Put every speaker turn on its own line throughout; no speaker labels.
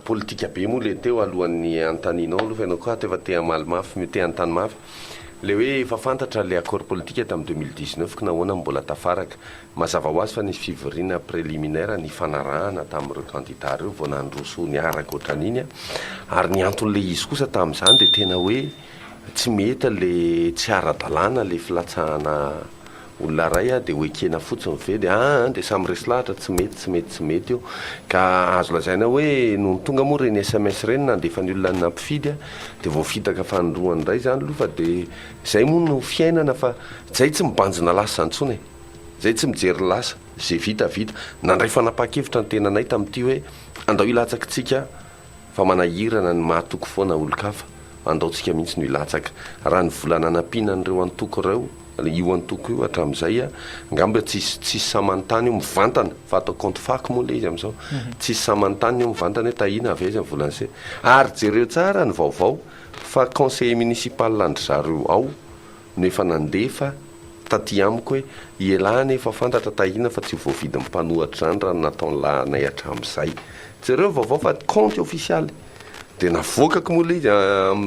Politika be moa le teo alohan'ny hanontanianao aloha fa ianao koa ato efa te hamaly mafy, te hanontany mafy. Le hoe efa fantatra le accord politique tamin'ny deux mille dix neuf ka nahoana no mbola tafaraka. Mazava ho azy fa nisy fivoriana preliminaire nifanarahana tamin'ireo candidats ireo vao nandroso niaraka ohatran'iny an. Ary ny anton'le izy kosa tamin'izany dia tena hoe tsy mety le tsy ara-dalàna le filatsahana olona iray dia ho ekena fotsiny ve dia aa dia samy resy lahatra tsy mety tsy mety tsy mety io ka azo lazaina hoe nony tonga moa ireny sms ireny nandefa ny olona nampifidy dia voafitaka fanindroany indray izany aloha fa dia izay moa no fiainana fa izay tsy mibanjina lasa izany intsony e! izay tsy mijery lasa, izay vita vita, nandray fanapahan-kevitra ny tenanay tamin'ity hoe andao hilatsaka isika Fa manahirana ny mahatoky foana olon-kafa, andaontsika mihitsy no hilatsaka. Raha ny vola nanampiana an'ireo antoko ireo, io antoko io hatramin'izay, angamba tsisy, tsisy sahy manontany eo mivantana, fa atao compte fac moa ilay izy amin'izao, tsisy sahy manontany eo mivantana hoe tahiana avy aiza ny volan'ny se. Ary jereo tsara ny vaovao fa conseiller municipal an-dry zareo ao, no efa nandefa taty amiko hoe ialahy anie efa fantatra tahiana fa tsy voavidin'ny mpanohatra izany raha ny nataon'ny lahinay hatramin'izay. Jereo vaovao fa kaonty ofisialy. Dia navoakako moa ilay izy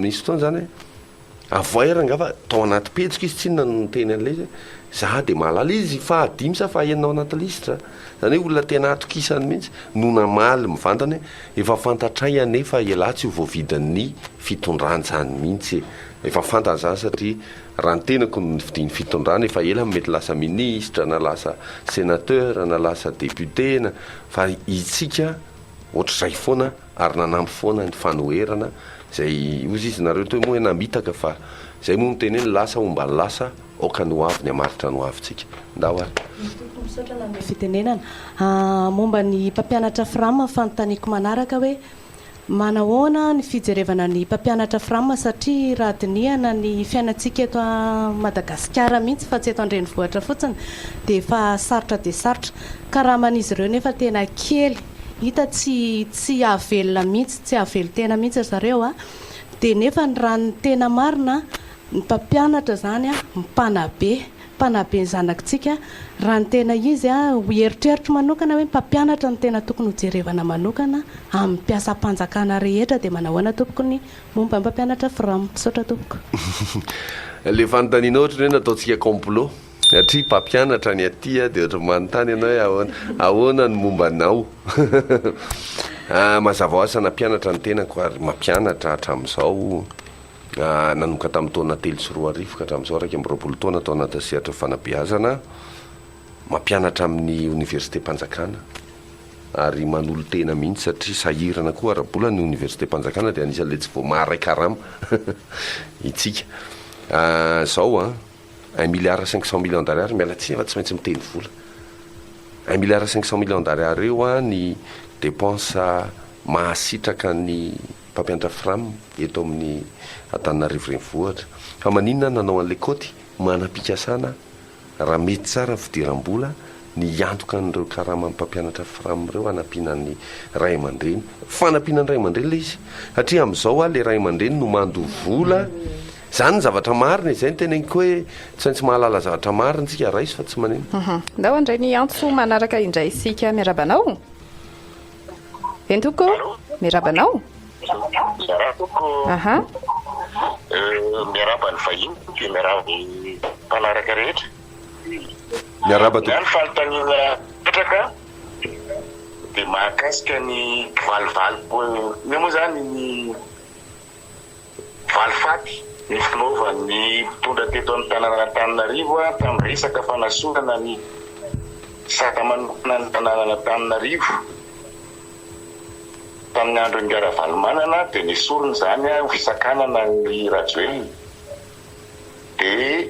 misy fotoana izany hoe avoay ary angaha fa tao anaty pejiko izy tsinona no niteny an'ilay izy hoe za dia mahalala izy fahadimy sa fahenina ao anaty lisitra. Izany hoe olona tena atokisany mihitsy no namaly mivantana hoe efa fantatray anie fa ialahy tsy ho voavidin'ny fitondrana izany mihitsy e. Efa fantany izany satria raha ny tenako no nifidian'ny fitondrana efa ela mety lasa ministra na lasa senateur na lasa député na fa itsika ohatr'izay foana ary nanampy foana ny fanoherana izay ozy izy nareo toy moa hoe namitaka fa izay moa miteny hoe ny lasa homba ny lasa aoka ny ho avy ny hamaritra ny ho avintsika ndao ary. Tompoko misaotra nanome
fitenenana. Momba ny mpampianatra fram fanontaniako manaraka hoe Manahoana ny fijerevana ny mpampianatra fram satria raha dinihana ny fiainantsika eto a Madagasikara mihitsy fa tsy eto an-drenivohitra fotsiny dia efa sarotra dia sarotra. Karaman'izy ireo nefa tena kely. Hita tsy tsy hahavelona mihitsy, tsy hahavelon-tena mihitsy ry zareo a. Dia nefa ny raha ny tena marina a, ny mpampianatra izany a mpanabe. Mpanabe ny zanaktsika raha ny tena izy ho eritreritro manokana hoe mpampianatra no tena tokony ho jerevana manokana amin'ny mpiasam-panjakana rehetra dia manahoana tompoko ny momba ny mpampianatra fram? Misaotra tompoko.
Le fanontanianao ohatran'ny hoe nataontsika complot satria mpampianatra ny aty dia ohatran'ny manontany ianao hoe ahoana ahoana ny momba anao? Mazava hoazy fa nampianatra ny tenako ary mampianatra hatramin'izao. nanomboka tamin'ny taona telo sy roa arivo ka hatramin'izao iraika amby roapolo taona tao anatin'ny sehatra fanabeazana, mampianatra amin'ny oniversitem-panjakana ary manolo-tena mihitsy satria sahirana koa ara-bola ny oniversitem-panjakana dia anisan'ilay tsy vao maharay karama isika izao an! un milliard cinq cent millions d'ariary miala tsiny fa tsy maintsy miteny vola un milliard cinq cent millions d'ariary eo an ny dépenses mahasitraka ny mpampiantra Fram eto amin'ny Antananarivo Renivohitra, fa maninona nanao an'ilay kaoty manam-pikasana raha mety tsara fidiram-bola ny hiantoka an'ireo karaman'ny mpampianatra Fram ireo hanampiana ny ray aman-dreny, fanampiana ny ray aman-dreny ilay izy satria amin'izao a, ilay ray aman-dreny no mando vola, izany ny zavatra marina e, izay no teneniko hoe tsy maintsy mahalala zavatra marina isika, raiso fa tsy manino. Ndao handray ny antso
manaraka indray isika, miarahaba anao. Entoko. Miaraba anao. Miaraba tompoko. Aha.
Miaraba ny vahiny dia miaraba ny mpanaraka rehetra.
Miaraba tompoko. Ny fanontaniana
petraka dia mahakasika ny valivali-poana. Inona moa izany ny valifaty nifinaovan' ny mpitondra teto amin'ny tanànan'Antananarivo tamin'ny resaka fanasorana ny sata manokana ny tanànan'Antananarivo tamin'ny andron'i Ravalomanana dia nesoriny izany ho fisakanana an'i Rajoelina. dia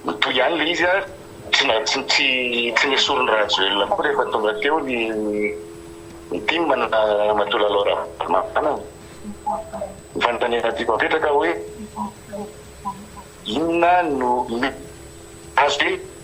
mitohy ihany ilay izy ary tsy na tsy tsy tsy nesorin'i Rajoelina koa rehefa tonga teo ny ny tim na Ramatoa Lalao Ravalomanana. Ny fanontaniana tiako apetraka hoe inona no azo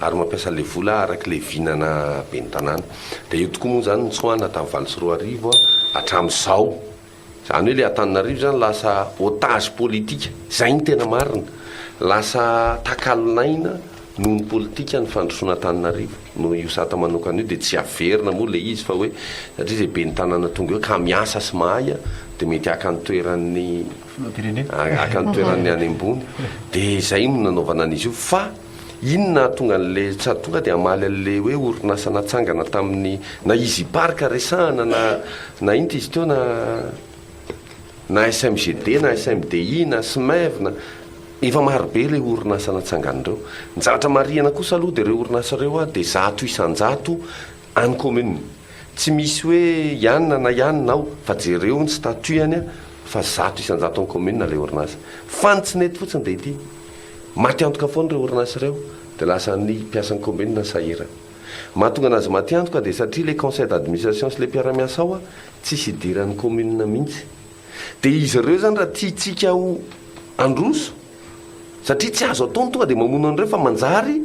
ary mampiasa ilay vola araka ilay vinana ben'ny tanàna. Dia eo tokoa moa izany ny tsoahina tamin'ny valo sy roa arivo hatramin'izao. Izany hoe ilay Antananarivo izany lasa otage politika. Izay no tena marina. Lasa takalon'aina noho ny politika ny fandrosoana Antananarivo. Noho io sata manokana io dia tsy averina moa ilay izy fa hoe satria izay ben'ny tanàna tonga eo ka miasa sy mahay dia mety haka ny toeran'ny haka ny toeran'ny any ambony. Dia izay no nanaovana an'izy io fa. Inona ahatonga anle sady tonga dia hamaly anle hoe orinasa natsangana tamin'ny na Easy Park resahana na na inty izy teo na na SMGD na SMDI na SMEV na efa maro be ireo orinasa natsangana ireo. Ny zavatra marihana kosa aloha dia ireo orinasa ireo a dia zato isan-jato any commune. Tsy misy hoe ianona na ianona ao fa jereo ny statut any a fa zato isan-jato any commune ilay orinasa. Fa ny tsy nety fotsiny dia ity. Maty antoka foana ireo orinasa ireo dia lasan'ny mpiasan'ny kaominina ny sahirana. Mahatonga anazy maty antoka dia satria ilay conseil d'administration sy ilay mpiara-miasa ao tsisy idiran'ny kaominina mihitsy. Dia izy ireo izany raha tiantsika ho handroso satria tsy azo atao ny tonga dia mamono an'ireo fa manjary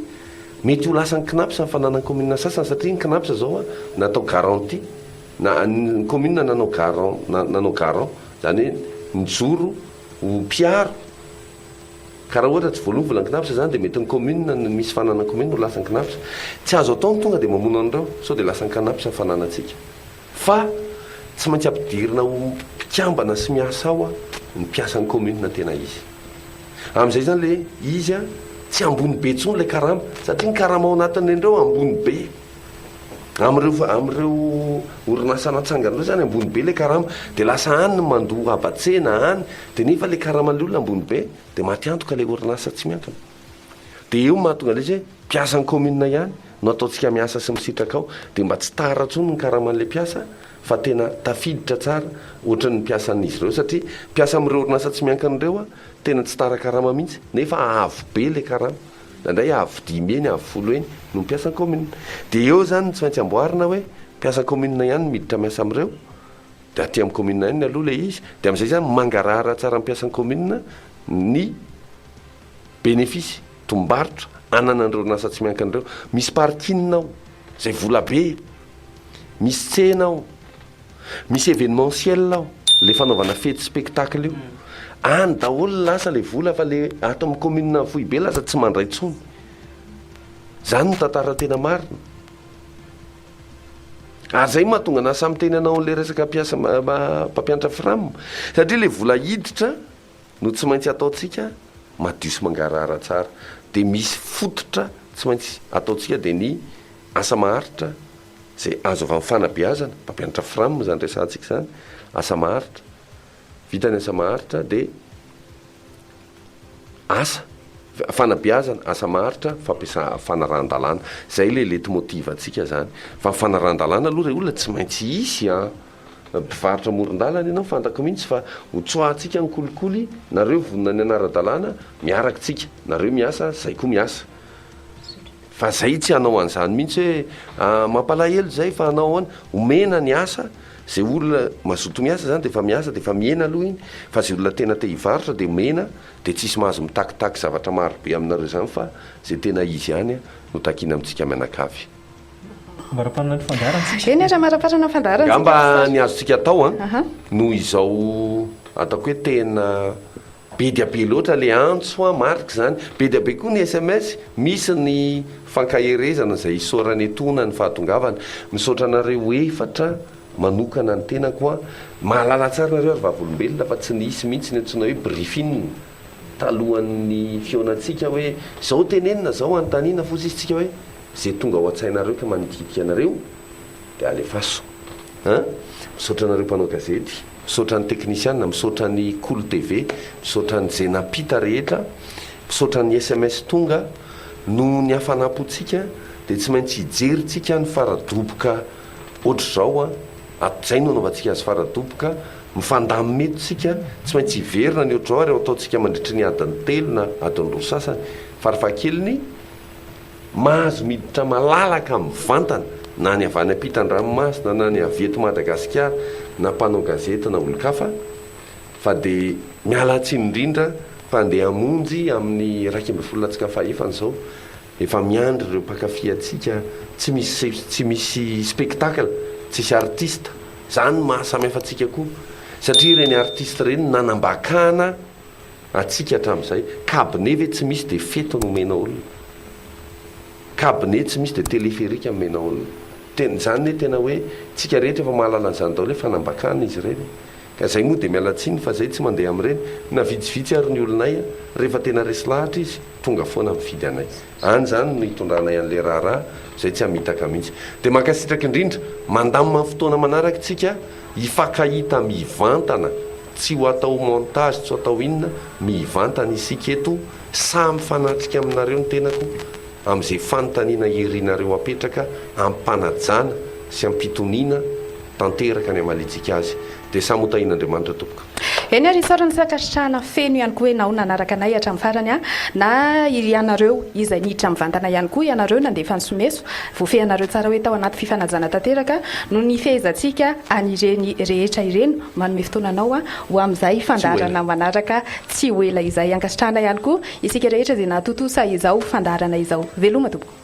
mety ho lasan'ny Cnaps ny fananan'ny kaominina sasany satria ny Cnaps izao natao garantie na ny kaominina nanao garant nanao garant izany hoe nijoro ho mpiaro Ka raha ohatra tsy voaloa vola an-kinafatra izany dia mety ny commune ny misy fanana commune no lasa an-kinafatra. Tsy azo atao ny tonga dia mamono an'ireo sao dia lasa an-kanafatra ny fananantsika. Fa tsy maintsy ampidirina ho mpikambana sy miasa ao ny mpiasan'ny commune tena izy. Amin'izay izany ilay izy tsy ambony be intsony ilay karama satria ny karama ao anatin'ireny ireo ambony be. Amin'ireo amin'ireo orinasa natsangany ireo izany ambony be ilay karama, dia lasa any ny mandoa haba-tsena any, dia nefa ilay karaman'ilay olona ambony be, dia maty antoka ilay orinasa tsy miankina. Dia io no mahatonga an'ilay izy hoe mpiasan'ny kaominina ihany no ataontsika miasa sy misitraka ao, dia mba tsy tara intsony ny karaman'ilay mpiasa fa tena tafiditra tsara ohatran'ny mpiasan'izy ireo, satria mpiasa amin'ireo orinasa tsy miankina ireo tena tsy tara karama mihitsy, nefa avo be ilay karama. na ndray avo dimy eny, avo folo eny no mpiasan'ny kaominina. Dia eo izany no tsy maintsy amboarina hoe mpiasan'ny kaominina ihany no miditra miasa amin'ireo, dia aty amin'ny kaominina ihany ny aloha ilay izy, dia amin'izay izany mangarahara tsara ny mpiasan'ny kaominina ny benefisy, tombom-barotra, ananan'ireo orinasa tsy miankina ireo. Misy parking ao, izay volabe, misy tsena ao. Misy événementiel ao, le fanaovana fety spectacle io. Any daholo lasa le vola fa le ato amin'ny commune foibe lasa tsy mandray tsony. Zany no tantara tena marina. Ary zay mahatonga anah samy teny anao an'le resaka mpiasa mpampianatra fram satria le vola hiditra no tsy maintsy ataontsika madio sy mangarahara tsara dia misy fototra tsy maintsy ataontsika dia ny asa maharitra izay azo avy amin'ny fanabeazana, mpampianatra fram izany resahantsika izany, asa maharitra, vita ny asa maharitra dia asa, fanabeazana, asa maharitra, fampiasa- fanarahan-dalàna. Izay ilay leitmotiv-ntsika izany. Fa ny fanarahan-dalàna aloha ry olona tsy maintsy hisy an! mpivarotra amoron-dalana ianao fantako mihintsy fa ho tsoahantsika ny kolikoly nareo vonona ny hanara-dalàna miaraka tsika nareo miasa zay koa miasa fa zay tsy hanao an'izany mihintsy hoe ah, mampalahelo izay fa hanao ahoana omena ny asa zay olona mazoto miasa zany dia efa miasa dia efa mihena aloha iny fa zay olona tena te hivarotra dia omena dia tsisy mahazo mitakitaky zavatra marobe aminareo izany fa zay tena izy ihany no takiana amintsika mianakavy Amaraparana ny fandaharantsika.
Eny ary amaraparana ny fandaharantsika. Angamba ny azontsika
atao an, noho izao ataoko hoe tena be dia be loatra ilay antso an, marika izany, be dia be koa ny sms, misy ny fankaherezana izay isaorana etoana ny fahatongavana. Misaotra anareo efatra manokana ny tenako an, mahalala tsara nareo ary vavolombelona fa tsy nisy mihitsy ny antsoina hoe briefing. talohan'ny fihaonantsika hoe zao tenenina zao anontaniana fotsy izy tsika hoe ze tonga ao antsainareo ka manitikitika anareo de alefaso an! misaotra anareo mpanao gazety misaotra ny teknisiana misaotra ny kolo TV misaotra ny ze nampita rehetra misaotra ny sms tonga nohon'ny hafanampotsika de tsy maintsy hijery tsika ny faradoboka otrzao an! Hatrizay no hanaovantsika azy fara-doboka, mifandamina eto isika, tsy maintsy hiverina ny ohatr'izao ary ho ataontsika mandritry ny adiny telo na adiny roa sasany, farafahakeliny, mahazo miditra malalaka mivantana na ny avy any ampitan-dranomasina na ny avy eto Madagasikara na mpanao gazety na olon-kafa fa dia miala tsiny indrindra fa andeha hamonjy amin'ny iraika ambin'ny folo latsaka fahefany izao Efa miandry ireo mpankafy antsika tsy misy tsy misy spectacle, tsisy artiste, zany no maha samy hafa antsika koa satria ireny artiste ireny no nanambakana antsika hatramin'izay, cabinet ve tsy misy dia fety no omena olona? Cabinet tsy misy dia téléphérique omena olona? Tena, zany anie tena hoe tsika rehetra efa mahalala an'izany daholo hoe fanambakana izy ireny. Ka zay moa dia miala tsiny fa zay tsy mandeha amin'ireny na vitsivitsy ary ny olonay a! Rehefa tena resy lahatra izy, tonga foana mifidy anay. Any izany no hitondranay an'ilay raharaha izay tsy hamitaka mihitsy. Dia mankasitraka indrindra! Mandamina ny fotoana manaraka isika hifankahita mivantana, tsy ho atao montage tsy ho atao inona, mivantana isika eto, sahy mifanatrika aminareo ny tenako amin'izay fanontaniana irinareo apetraka ampanajana sy ampitoniana, tanteraka ny hamaliantsika azy dia samy ho tahin'Andriamanitra tompoko. Eny ary isaorana ny
fankasitrahana feno ihany koa enao nanaraka anay hatramin'ny farany a! na ianareo izay niditra mivantana ihany koa ianareo nandefa ny someso, voafehinareo tsara hoe tao anaty fifanajana tanteraka no nifehezantsika an'ireny rehetra ireny, manome fotoana anao a! ho amin'izay fandaharana manaraka tsy ho ela izay, ankasitrahana ihany koa isika rehetra izay nahatontosa izao fandaharana izao, veloma tompoko.